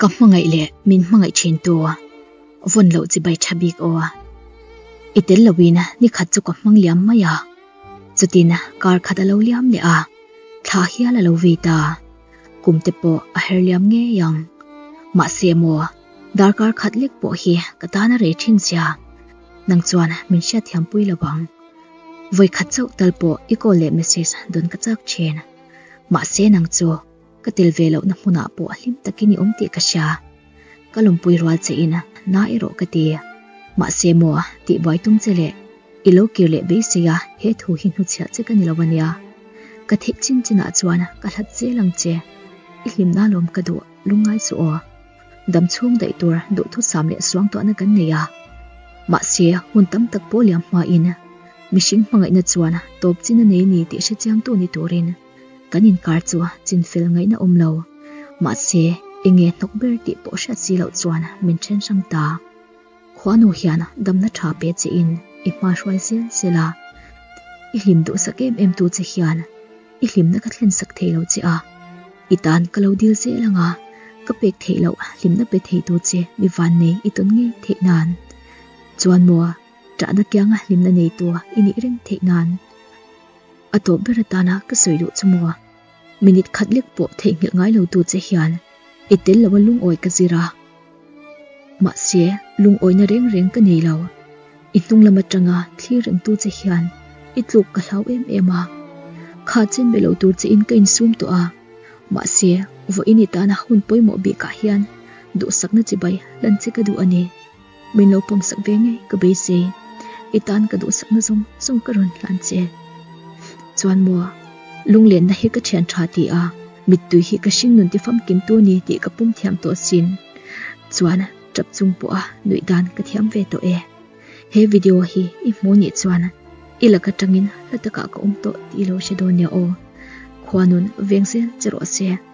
Ka hmangaih leh min hmangaih thin tu vawn loh chi bai tha bik aw. I tel loin ni khat chu ka hmang liam mai a, chutin kar khat a lo liam leh a, thla hial a lo vei ta. Kum te pawh a her liam ngei ang. Mahse emaw, darkar khat lek pawh hi ka tan a rei thin sia. Nang chuan min hriat thiam pui lo ang. Vawi khat chauh tal pawh i call leh message dawn ka chak thin. Mahse nang chu Ka tel ve lohna hmunah pawh hlim tak i ni awm tih ka hria. Ka lawmpui rual che in na erawh ka ti. Mahse maw tih buai tum che le. I lo kir leh beisei a, he thu hi hnuchhiah che ka ni lo a nia. Ka theih chin chin ah chuan ka hlat zel ang che. I hlim na lawm ka duh, lungngai chu aw. Dam chhung daih tur duhthusam leh suangtuahna kan nei a. Mahse hun tam tak pawh liam hma in mihring hmangaihna chuan tawp chin a nei ni tih hrechiang tu ni turin. Kan inkar chu chin fel ngaihna awm lo. Mahse, enge hnawk ber tih pawh hriat si loh chuan min then hram ta. Khuanu hian damna tha pe che in i hmahruai zel zel a. I hlim duh sak em em tu che hian i hlimna ka thlen sak thei lo che a. I tan ka lo dil zel ang a, ka pek theih loh hlimna pe thei tu che mi van nei i tawn ngei theih nan chuan maw, chahna kianga hlimna nei tu i nih reng theih nan. A tawp ber atana ka sawi duh chu maw a, minute khat lek pawh theihnghilh ngai lo tu che hian i tel lo a lungawi ka zir a. Mahse, lungawina reng reng ka nei lo. I hnunglam atanga thlir reng tu che hian i tluk ka hlau em em a. Kha chen ve lo tur che in ka insum tawh a, mahse, vawiin i tana hun pawimawh bikah hian duhsakna chibai hlan che ka duh a ni. Min lo pawm sak ve ngei ka bei se. I tan ka duhsak na zawng zawng ka rawn hlan che. Chuan maw lunglenna hi ka thian tha ti a, mittui hi ka hring nun tifam kim tu ni tih ka pum thiam tawh sin. Chuan tap chung pawha nuih dan ka thiam ve tawh e. He video hi i hmuh nih chuan i lak atangin hla takah ka awm tawh ti lo hre dawn nia aw. Khua nun veng zel che rawh se.